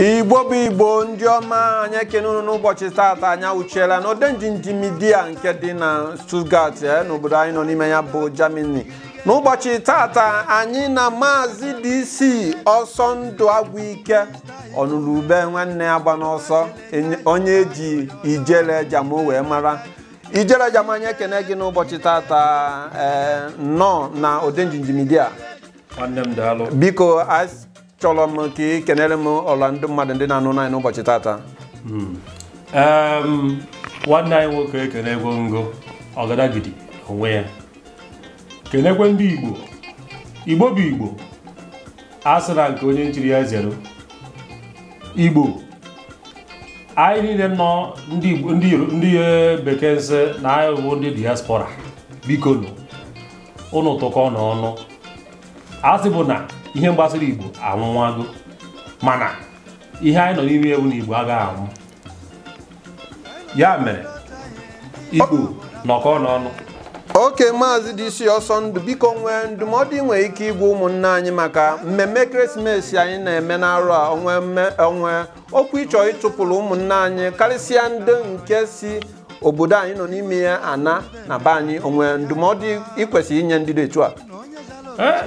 igbo bụ igbo ndị ọma anyị ekene unu n'ụbọchị taata anyị awụchiela n'Odenjinji Media nke dị na Stuttgart eh, n'obodo anyị nọ n'ime ya bụ Germany n'ụbọchị taata anyị na maazị DC ọsọ ndụ agwụ ike ọnụrụ ube nwanne agbana ọsọ onye e ji Ijele Jamo wee mara Ijele Jamo anyị ekene gị n'ụbọchị tata ee nnọọ na Odenjinji Media nwanne m daalụ biko achọrọ m ka ị kenere m ọla ndị mmadụ ndị na-anụ anyị n'ụbọchị tata Em, nwanne anyị nwoke ekenego m gị ọgadagidi onwe ya kenekwa ndị igbo igbo bụ igbo a sị na nke onye nchiri ya zeru igbo anyị niile nọ ndị Igbo- ndị Yoru- ndị eh, bekee nsị na anyị bụ ndị diaspora bikonụ unu tụkọ na ọnụ a sị bụ na ihe gbasara igbo anwụwago mana ihe anyị nọ n'ime ya wụ na igbo agaghị anwụ ya mere igbo nọkọ n'ọnụ okay maazị DC ọsọ ndụ biko o nwee ndụmọdụ ị nwere ike ịgwa ụmụnne anyị maka mmemme ekeresimesi anyị na-eme n'arọ a o nwee mme- o nwee okwu ị chọ ịtụpụrụ ụmụnne anyị karịsịa ndị nke si obodo anyị nọ n'ime ya ana na be anyị o nwee ndụmọdụ ị kwesịrị inye ndị dị etu a Ee,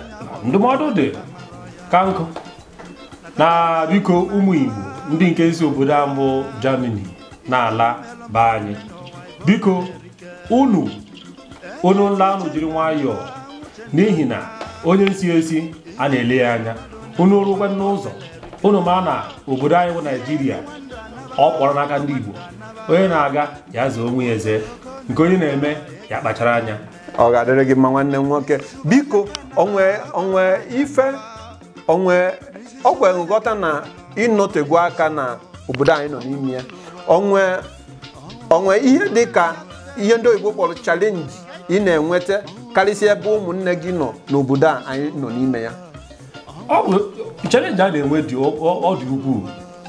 ndụmọdụ dị ka nkụ na biko ụmụ igbo ndị nke si obodo a bụ germany na-ala be anyị biko unu unu nla unu jiri nwayọọ n'ihi na onye nsi esi a na-ele ya anya unu rukwa n'ụzọ unu ma na obodo anyị bụ naijiria ọ kpọrọ n'aka ndị igbo onye na-aga ya zee onwe ya eze nke onye na-eme ya kpachara anya ọ ga-adịrị gị mma nwanne m nwoke biko o nwe o nwe ife o nwe ọ kwere nghọta na ị nọtegwo aka na obodo anyị nọ n'ime ya o nwe o nwe ihe dị ka ihe ndị oyibo kpọrọ challenge ị na-enweta karịsịa ebe ụmụnne gị nọ n'obodo a anyị nọ n'ime ya ọ bụ challenge a na-enwe dị ọ ọ dị ukwuu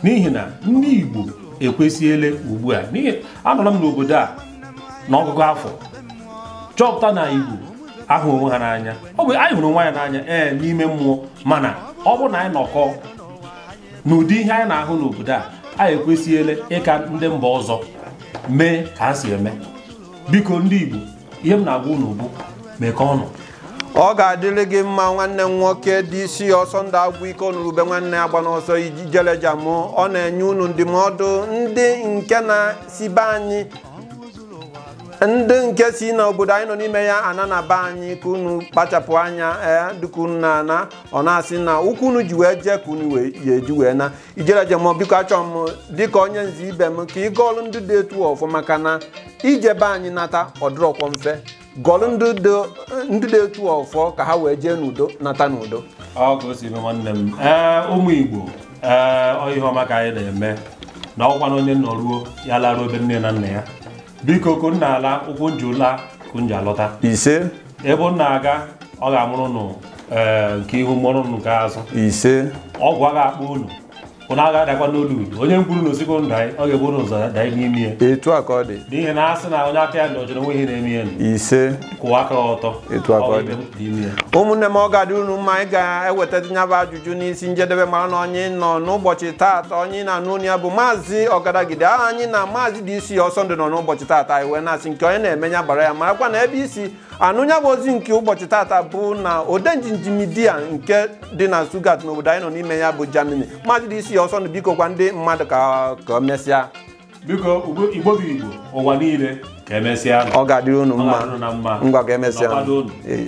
n'ihi na ndị Igbo ekwesịela ugbu a n'ihi anọrọ m n'obodo a n'ọgụgụ afọ chọpụta na Igbo ahụ onwe ha n'anya ọ bụ anyị hụrụ onwe anyị n'anya ee n'ime mmụọ mana ọ bụrụ na anyị nọkọ n'ụdị ihe anyị na-ahụ n'obodo a anyị ekwesịela ịka ndị mba ọzọ mee ka ha si eme biko ndị Igbo ihe m na-agwa unu bụ mekọọ ọnụ ọ ga-adịrị gị mma nwanne m nwoke dc ọsọndụ agwụike onurube nwanne agbana ọsọ ijele jamo ọ na-enye unu ndụmọdụ ndị nke na-si be anyị ndị nke si na obodo anyị nọ n'ime ya ana na be anyị ka unu kpachapụ anya ee dịka unu na-ana ọ na-asị na ụkwụ unu ji wee jee ka unu ya-eji wee na ijele jamo biko achọrọ m dịka onye nze ibe m ka ị gọọlụ ndị dị etu a ọfọ maka na ije be anyị nata ọ dịrọkwọ mfe gọọlụ ndị dị- ndị dị etu a ọfọ ka ha wee jee n'udo nata n'udo ọ ka o si eme nwanne m ee ụmụ igbo ee ọ ihe ọma ka anyị na-eme na ọkwa na onye nọruo ya laruo ebe nne na nna ya biko ka unu na-ala ụkwụ unu ji la ka unu ji alọta ise ebe unu na-aga ọ ga-amụrụ nụ ee, nke ihu mụrụ nụ nke azụ ise ogwu aga akpọ unu unu aga adakwa n'olulu onye gwuru ọnụ sị ka unu danye ọ ga-ebu unu ụzọ danye n'ime ya etu a ka ọ dị n'ihi na a sị na onye aka ya dị ọcha o nwe ihe na-eme ya nụ ise kwụwa aka ọtọ Etu a ka ọ Ọ bụ dị. ibe m dị ime ya ụmụnne m ọ ga-adị unu mma anyị ga-eweta nya bụ ajụ jụ n'isi njedebe mara na onye nọ n'ụbọchị taata onye na-anụ olu ya bụ maazị ọgadagidi aha anyị na maazị dc ọsọndụ nọ n'ụbọchị taata anyị wee na-asị nke onye na-eme ya baara ya marakwa na ebe i si anụ nya bụ ozi nke ụbọchị taata bụ na odenjinji media nke dị na stuttgart n'obodo anyị nọ n'ime ya bụ germany maazị dc ọsọndụ biko gwa ndị mmadụ ka ka o mesịa biko ugbo- igbo bụ igbo ụwa niile ka emesịa nụ. ọ ga-adịrị unu Ọ mma ga-adịrị unu na mma. ngwa ka emesịa Nọkwado unu. Ee.